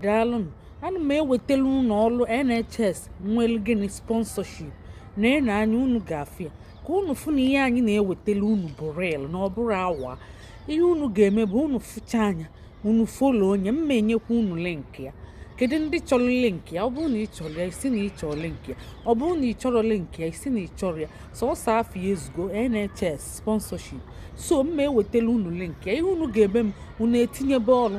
daalụnụ ana m ewetala unu ọrụ NHS nwere gịnị sponsorship neenụ anya unu ga-afụ ya ka unu fụ na ihe anyị na-ewetala unu bụ real na ọ bụrọ awa ihe unu ga-eme bụ unu fụchaa nya unu follow nye m ma-enyekwa unu link ya kedu ndị chọrọ link ya ọ bụrụ na ị chọrọ ya ị sị na ị chọrọ link ya ọ bụrụ na ị chọrọ link ya ị sị na ị chọrọ ya sọsọ afa ya ezugo NHS sponsorship so m ma-ewetala unu link ya ihe unu ga-eme bụ unu etinyebe ọrụ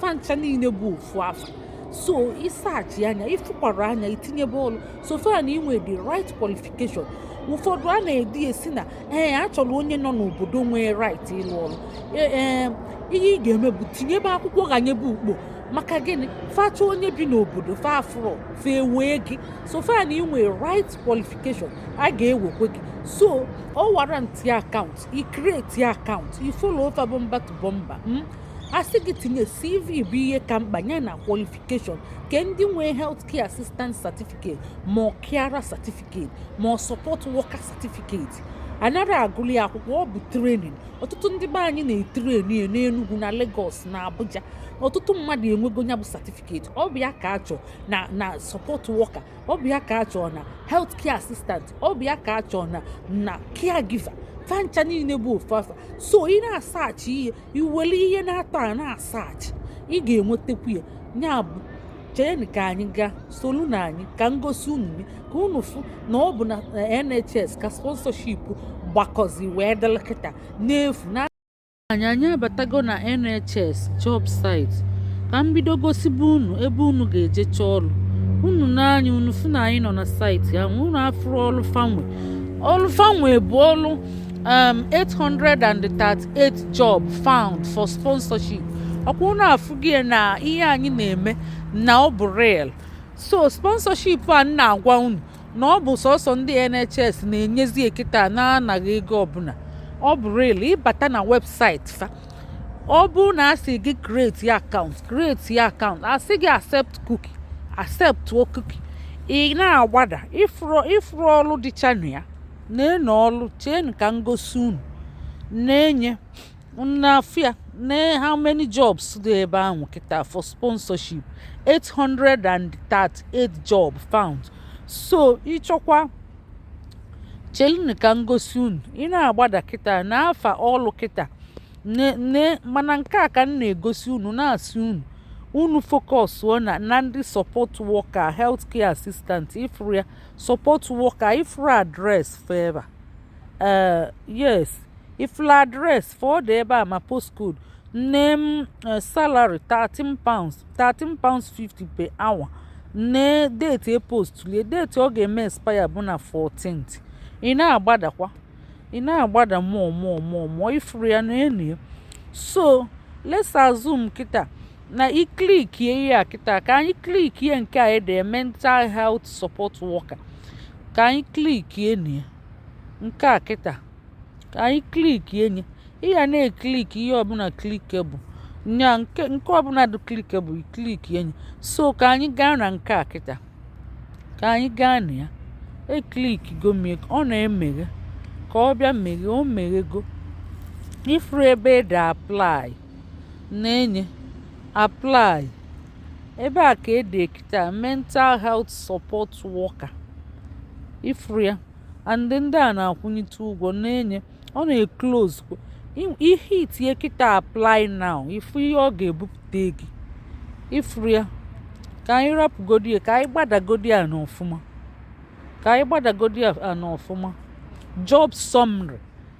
fa ncha niile bụ ofu afa so ị saachịa nya ị fụkwara nya i tinyebe ọlụ so far na i nwe the right qualification ụfọdụ a na-ede sị na ee eh, a chọrọ onye nọ n'obodo nwee right ịlụ ọrụ eh, eh, ihe ị ga-eme bụ tinyebe akwụkwọ ghanyebe ukpo maka gịnị fa chọọ onye bi n'obodo fa afụrọ fa ewee gị so far na i nwe right qualification a ga-ewekwe gị so ọ warrant ya account i create ya account i follow fa bumper to bumper hmm? a sị gị tinye cv bụ ihe ka mkpa ya na qualification nke ndị nwee health care assistant certificate ma ọ carer certificate ma ọ support worker certificate anara agụli akwụkwọ ọ bụ training ọtụtụ ndị be anyị na-etreni ya n'Enugu na Lagos na Abuja ọtụtụ mmadụ enwego ya bụ certificate ọ bụ ya ka a chọọ na na support worker ọ bụ ya ka a chọọ na health care assistant ọ bụ ya ka a chọọ na na caregiver fa ncha niile bụ ofu afa so ị na-asaachị ihe i were ihe n'atọ a na-asaachị ị ga-enwetakwu ya ya bụ cheenụ ka anyị gaa solunụ anyị ka m gosi unu ka unu fụ na ọ bụ na eh, NHS ka sponsorship gbakọzi wee dịlị kịta n'efu na anyị anyị abatago na NHS job site ka m bido gosibe unu ebe unu ga-eje chọọ ọrụ unu nee anya unu fụ na anyị nọ na site ahụ unu afụrụ ọrụ fa nwe ọrụ fa nwe bụ ọrụ um, 838 job found for sponsorship ọkwa unu afụgie na ihe anyị na-eme na ọ bụ real so sponsorship a na-agwa unu na ọ bụ sọsọ ndị NHS na-enyezi e kịta n'anaghị ego ọbụla ọ bụ real ị bata na website fa ọ bụ na a sị gị create ya account create ya account a sị gị accept cookie accept cookie ị na-agbada ị fụrụ ọrụ dịcha na ya neenụ ọlụ cheenụ ka m gosi unu na-ene ya na-afụ ya na how many jobs dị ebe ahụ kịta for sponsorship 838 job found so ị chọkwa chelunu ka m gosi unu ị na-agbada kịta na-afụ ọlụ kịta ne ne mana nke a ka m na-egosi unu na-asị unu unu focus na na ndị support worker healthcare assistant ị fụrụ ya support worker ifuru address fa ebe a uh, yes ifuru address fa ọ dị ebe a ma postcode name uh, salary thirteen pounds thirteen pounds fifty per hour nee date e postulie date ọ ga-eme expire bụ na 14th ị na-agbadakwa ị na-agbada more more more more ifuru ya na enu ya so let's assume kịta na ị klikie ihe a kịta ka anyị klikie nke a ede mental health support worker ka anyị klikie na ya nke a kịta ka anyị klikie nye ị ga na-ekliki ihe ọbụla clickable nya nke nke ọbụla dị clickable klikie nye so ka anyị gaa na nke a kịta ka anyị gaa na ya eklikigo m ya ọ na-emeghe ka ọ bịa meghe o meghego ifuru ebe ede apply na-enye apply ebe a ka ede kịta mental health support worker ifuru ya and ndị a na-akwụnyite ụgwọ na-enye ọ na-eclose ị hitie kịta apply now ifu ihe ọ ga-ebupụta gị ifuru ya ka anyị rapụgodi ya ka anyị gbadagodi ya n'ọfụma ka anyị gbadagodi ya n'ọfụma job summary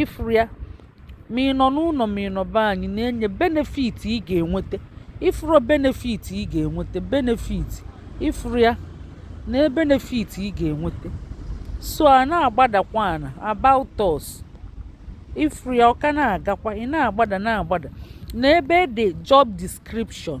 ịfụrụ ya ma ị nọ n'ụnọ ma ị nọ be anyị na-enye benefit ị ga-enweta ịfụrụ benefit ị ga-enweta benefit ịfụrụ ya na benefit ị ga-enweta so a na-agbadakwa ana about us ịfụrụ ya ọ ka na-agakwa ị na-agbada na-agbada na ebe ede job description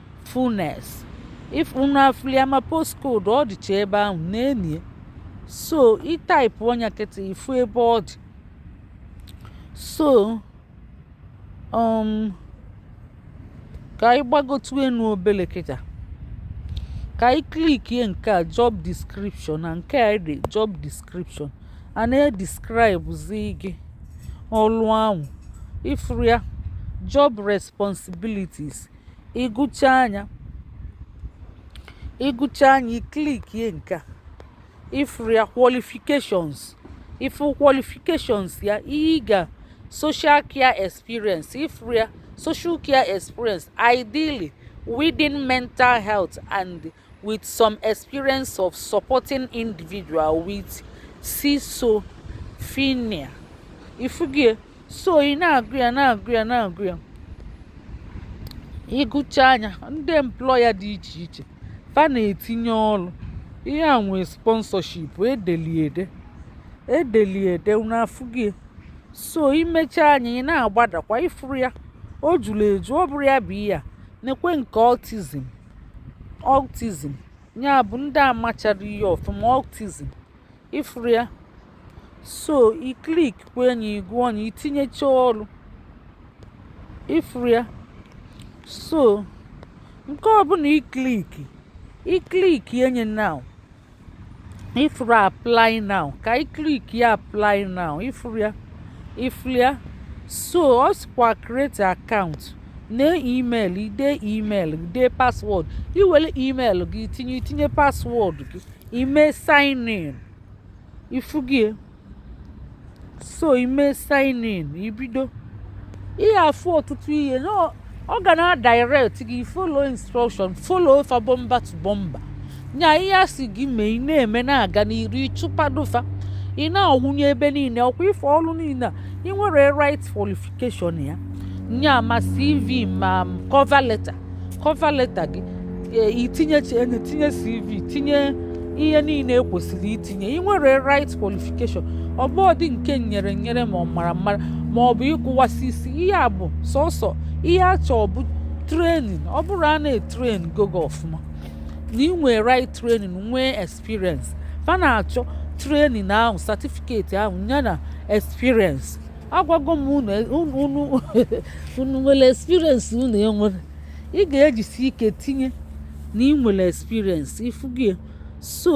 Furness if unu afụli ya ma postcode ọ dịcha ebe ahụ na-enye so ị taipụọ nya kịta ifu ebe ọ dị so um, ka anyị gbagotu enu obele kịta ka anyị klikie nke a job description na nke a dị job description a na-edescribezi gị ọlụ ahụ ifuru ya job responsibilities ị gụchaa nya ị gụchaa nya ị klikie nke a ifuru ya qualifications ifu qualifications ya ihe ị ga social care experience ifuru ya social care experience ideally within mental health and with some experience of supporting individual with schizophrenia. Ifugie, so ị na-agụ ya na-agụ ya na-agụ ya ị gụchaa nya ndị employer dị iche iche fa na-etinye ọlụ ihe a nwee sponsorship e deli ede e deli ede n'afụgie so i mechaa nya ị na-agbadakwa ifuru ya o juru eju ọ bụrụ ya bụ ihe a na-ekwe nke autism autism ya bụ ndị amachara ihe ọfụma autism ịfụrụ ya so i klik kwa nya ị gụọ nya itinyecha ọrụ ịfụrụ ya so nke ọbụla ikliki iklikie nya now ifuru apply now ka anyị klik ya apply now ifuru ya ifuru ya so ọ sịkwa create account na email ide email ide password iwere email gị tinye itinye password gị ime sign in ifugo ya so ime sign in ibido ihe afụ ọtụtụ ihe na ọ ga na-adirect gị follow instruction follow fa bọmba to bọmba nya ihe a sị gị mee ị na-eme na-aga n'iru ịchụpado fa ị na-awụnye ebe niile ọkwa ife ọrụ niile ị nwere right qualification ya nya ma cv ma cover letter cover letter gị e, itinye e, tinye cv tinye ihe niile ekwesịrị itinye ị nwere right qualification ọ bụrọdị nke nyere nyere ma ọ mara mara ma ọ bụ ịgụwasị isi ihe a bụ sọsọ ihe a chọọ bụ training ọ bụrụ na e traingo gị ọfụma na ị nwee right training nwee experience fa na-achọ training ahụ certificate ahụ yana experience agwago m unu nwere experience unu enwerọ ị ga-ejisi ike tinye na ị nwere experience ifugo ya so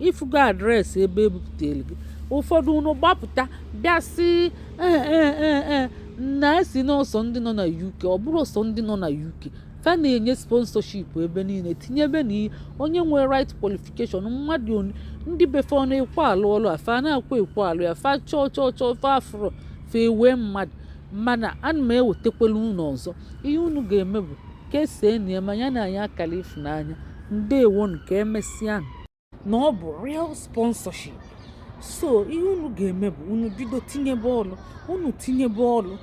ifugo address ebe ebupụtara gị ụfọdụ unu gbapụta bịa sị ee eh, eh, eh, na-asị na ọ sọ ndị nọ na UK ọ bụrọ sọ ndị nọ na UK fa na-enye sponsorship ebe niile tinyebe na onye nwere right qualification mmadụ ndị be fa ana-ekwe alụ ọlụ a fa anakwa ekwe alụ ya fa chọọ chọọ chọọ fa afụrọ fa ewee mmadụ mana ana m ewetakwala unu ọzọ ihe unu ga-eme bụ kesaanụ ya ma nyenụ anyị akala ịfụnanya ndewonu ka emesịa na ọ bụ real sponsorship so ihe unu ga-eme bụ unu bido tinyebe ọlụ unu tinyebe ọlụ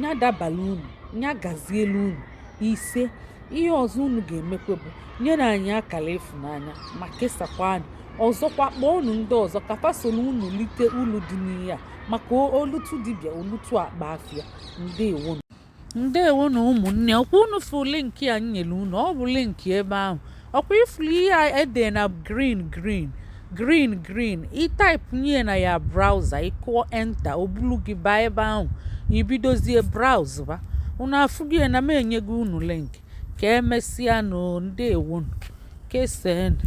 nya dabalụ unu nya gazielu unu ise ihe ọzọ unu ga-emekwa bụ nyere anyị akala ịfụnanya ma kesakwa nya ọzọkwa kpọọnụ ndị ọzọ ka fa soro unu lite ulu dị n'ihe a maka o lutu dibịa o lutu akpa afịa ndewo ndewonu ụmụnne ọkwa unu fụ link ya nyere unu ọ bụ link ebe ahụ ọkwa ifuru ihe a ede na green green green green ị typenye na your browser ịkụọ enter o bulu gị baa ebe ahụ ibidozie browse ba unu afụgo ya na m enyego unu link ka emesịanụ ndewonu kesaanụ